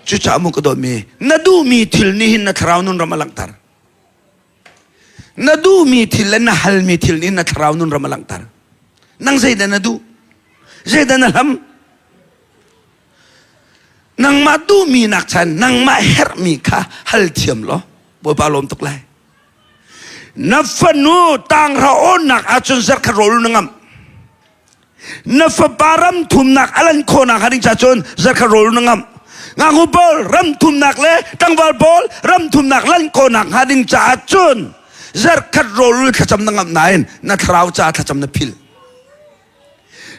cucaah mu ka dawtmi na duhmi thil nih hin na thlarau nun ram a langhter na duhmi thil le na halmi thil nih na thlarau nun ram a langhter nang zeidah na duh zeidah na hlam nangmah duhmi nak chan nangmah herhmi kha hal thiam law bawipa lawm tuk lai na fanu tang ra onnak ahcun zarkhat rawl na ngam na fapa ram thumnak a lan khawhnak hnga ding cun zakhat rawl na ngamh ngaknu pawl ram thumnak le tlangval pawl ram thumnak lan khawhnak hnga ding caah cun zarkhat rawl le thlacam na ngamh nain na thlarau caah thlacam na phil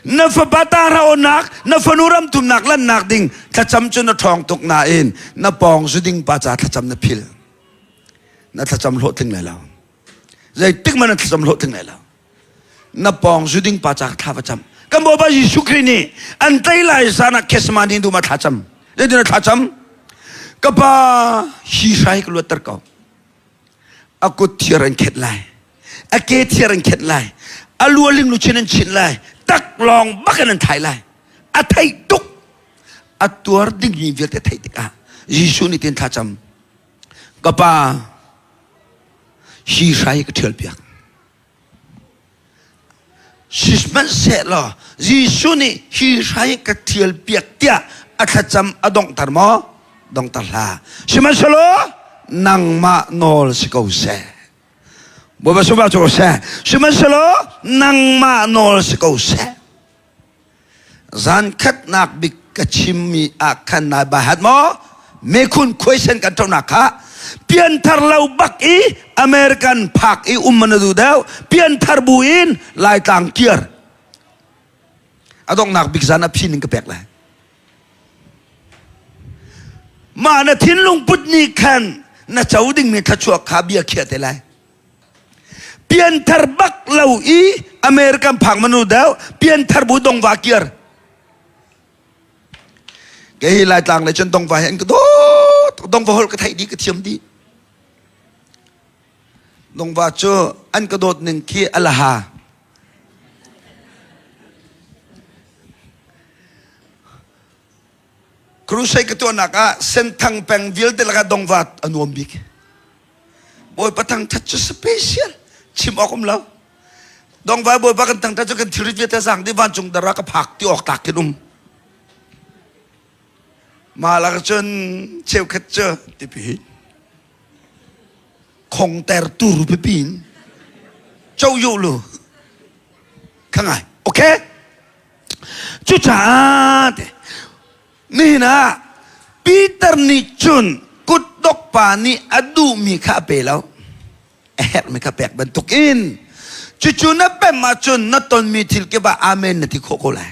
na fapa tara onak na fanu ram thumnak lannak ding thlacam cu na ṭhawng tuk nain na pawng zu ding pa ca thlacam na phil na thlacam hlawhtling lai lo zeitik man na thlacam hlawhtling lai lo na pawng zu ding pa cak thla va cam kan bawipa jesuh khrih nih an tei lai zan ah kesma ni dum a thla cam le din a thla cam ka pa hi hrai ka luat ter ko a kut thiar an khet lai a ke thiar an khet lai a lualing lu chin an chin lai tak long bakin an thai lai a thai tuk a tuar ding ni vialte thai tikah jesuh nih tin thla cam ka pa hi hrai ka thial piak Sihmanhsehlaw Jesuh nih hi hrai ka ṭhial piak tiah a thlacam a donghter maw? Dongter hlah. Sihmanhsehlaw nangmah nawl si ko seh. Bawipa sunparnak cu ko seh. Sihmanhsehlaw nangmah nawl si ko seh. zankhatnak bik ka chimmi ah khan nai bahat maw mekhun question kan thonak kha pianthar lo bak i american phak i um mana du deu pianthar bu in laitlang kiar adongnak bik zan a phin in ka pek lai ma na thinlung put ni khan na cho ding mi thlachuak kha bia khia te lai pianthar bak lo i american phang manu deu pianthar bu dong va kiar ke hi lai tlang le chan dong va he an ka do dong va hol ka thai di ka thiam di dong va chu an ka dot ning khi alaha Crusade ka tuahnak ah Senthang peng vialte lakah dongva a nuam bik. Bawipa thangthat cu special. Chim awk um lo. Dongva bawipa kan thangthat cu kan thil viate sang ti vancung dara ka phak ti awk tak kin um. Malah cun cheukhat cu tipi khong ter tur pipin. Chow yu lu. Khangai. Okay? Cucaah nihin ah Peter nih cun kutdok pa nih a duhmi kha a pe lo. A herhmi kha pek bantuk in cucu na pem ahcun na tonmi thil kipah amen na ti khawh ko lai.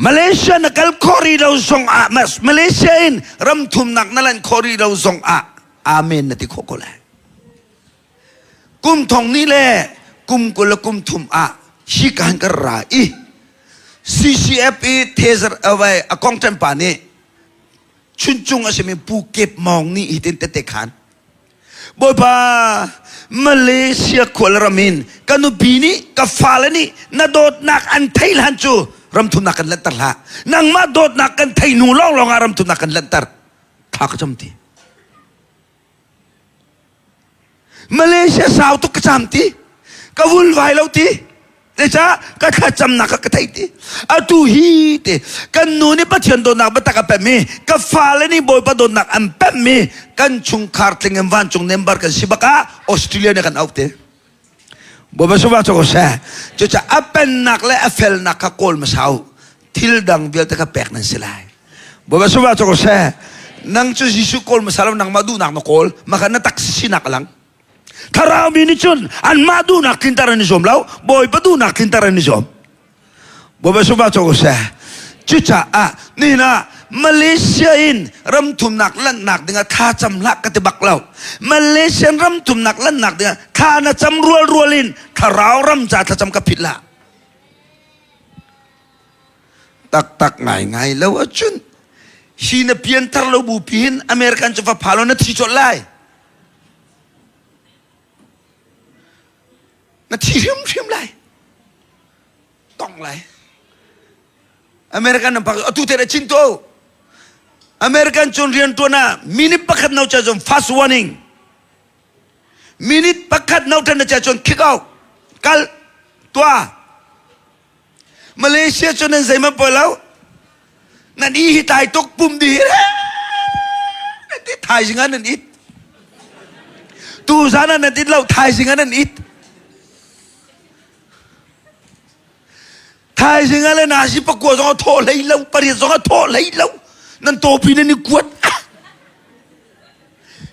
Malaysia na kal khawh rih lo zongah Malaysia in ramthumnak na lanh khawh rih lo zongah amen na ti khawh ko lai. kum thong ni le kum kul le kum thum ah hi kan kan ra i CCF i thezar awai akong ṭempa nih chuncung a simi pu kep mawng ni hitin tete khan Bawipa Malaysia khual ramin ka nupi nih ka fale nih na dawtnak an thei lan cu ramthumnak kan lantar hlah nangmah dawtnak kan thei nu lawng lawngah ramthumnak kan lantar thla ka cam ti Malaysia sau tuk ka cam ti ka vun vai lo ti zeicah ka thlacamnak ka thei ti atu hi te kan nu nih pathian dawtnak biatak a pemmi ka fale nih bawipa dawtnak an pemmi kan chungkhar tling in vancung nembar kan si bak ah australia nih kan auh te Bawipa sungva cu ko seh cucaah a pennak le a felnak kha kawl hmasa u thil dang vialte kha pek nan si lai Bawipa sungva cu ko seh nang cu Jesuh kawl hmasa lo nangmah duhnak na kawl maka na tak sinak a lang thlarau mi nih cun anmah duhnak tlinter an i zuam lo bawipa duhnak tlinter an i zuam Bawipa sungpa cu seh cucaah nihin ah Malaysia in ramthumnak lanhnak dingah tha cam hlah ka ti bak lo Malaysian ramthumnak lanhnak dingah tha na cam rual rual in thlarau ram ca thlacam ka phit la taktak ngai ngai lo acun hi na pianthar lo bu pihin American cu fa phalo na thi cawlh lai na thi hrimhrim lai tong lai american nan pak atu te da chin to american cun rian tuan ah minute pakhat no cha cun fast warning minute pakhat no tan na cha cun kick out kal tua Malaysia cu nan zeihmanh poi lo. Nan i hi tai tuk pum di re. Nan ti thaizing ah nan it. Tu zan ah nan it lo thaizing ah nan it. Thaizing ah le nasi pakua zong a thaw hlei lo, pariat zong a thaw hlei lo. Nan topi nan i kuat.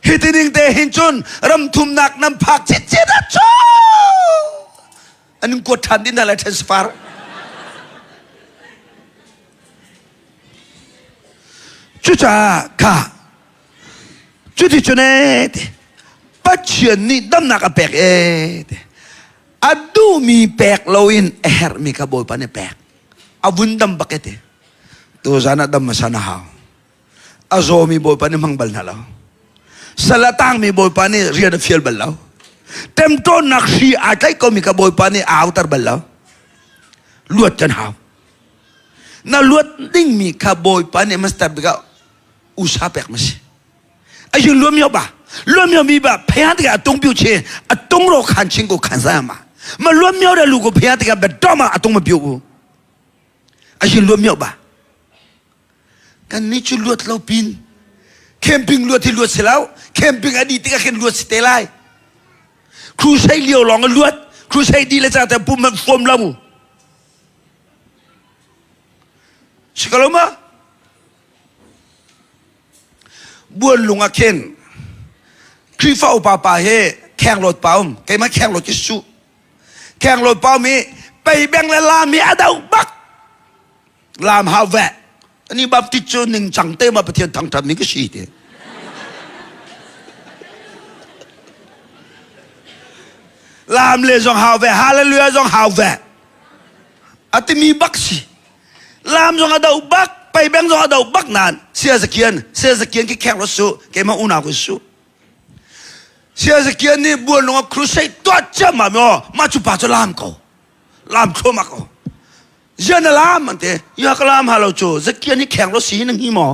Hi tining te hin cun ramthumnak nan phak citcit a cu. an in kuat ṭhan dih hna lai transfer. Cucaah kha cuticun ee ti Pathian nih damnak a pek ee ti a duhmi pek loin a herhmi kha Bawipa nih a pek a vun dam bak ee ti tuzan ah dam hmasa na hau a zawmi bawipa nih hmang bal hna lo sal a tangmi bawipa nih rian a fial bal lo temtawnnak hri aa tlaih komi ka bawipa nih a autar bal lo luat kan hau na luat dingmi kha bawipa nih master bika usa pek ma si ayun luam yo ba luam yo mi ba phaya tika tung piu che a tung ro khan ching ko khan sa ma ma luam yo da lu ko phaya tika ba doma a tung ma piu u ayun luam yo ba Kannih cu luat lo pin camping luat hi luat si lo camping a dih tikah khin luat si te lai crusade lio lawng a luat crusade di le ca te pum hmanh hrawm lo si ko lo ma buan lung ah khin Krifa upa pa he khenglawt pa um keima khenglawt ki su khenglawt pa um i peibeng le lam hi a do bak lam ha ve ani baptist cu ning cang te ma pathian thang than mi ka si te lam le zong hau ve hallelujah zong hau ve atimi bak si lam zong ado bak pai beng zong ado bak nan sia zakian sia zakian ki khek ro su ke ma una ku su sia zakian ni buan lung crusade tua chama mo ma chu pa cho lam ko lam khoma ko Yan alam ante ya kalam halo chu zakian i kheng lo si na hi maw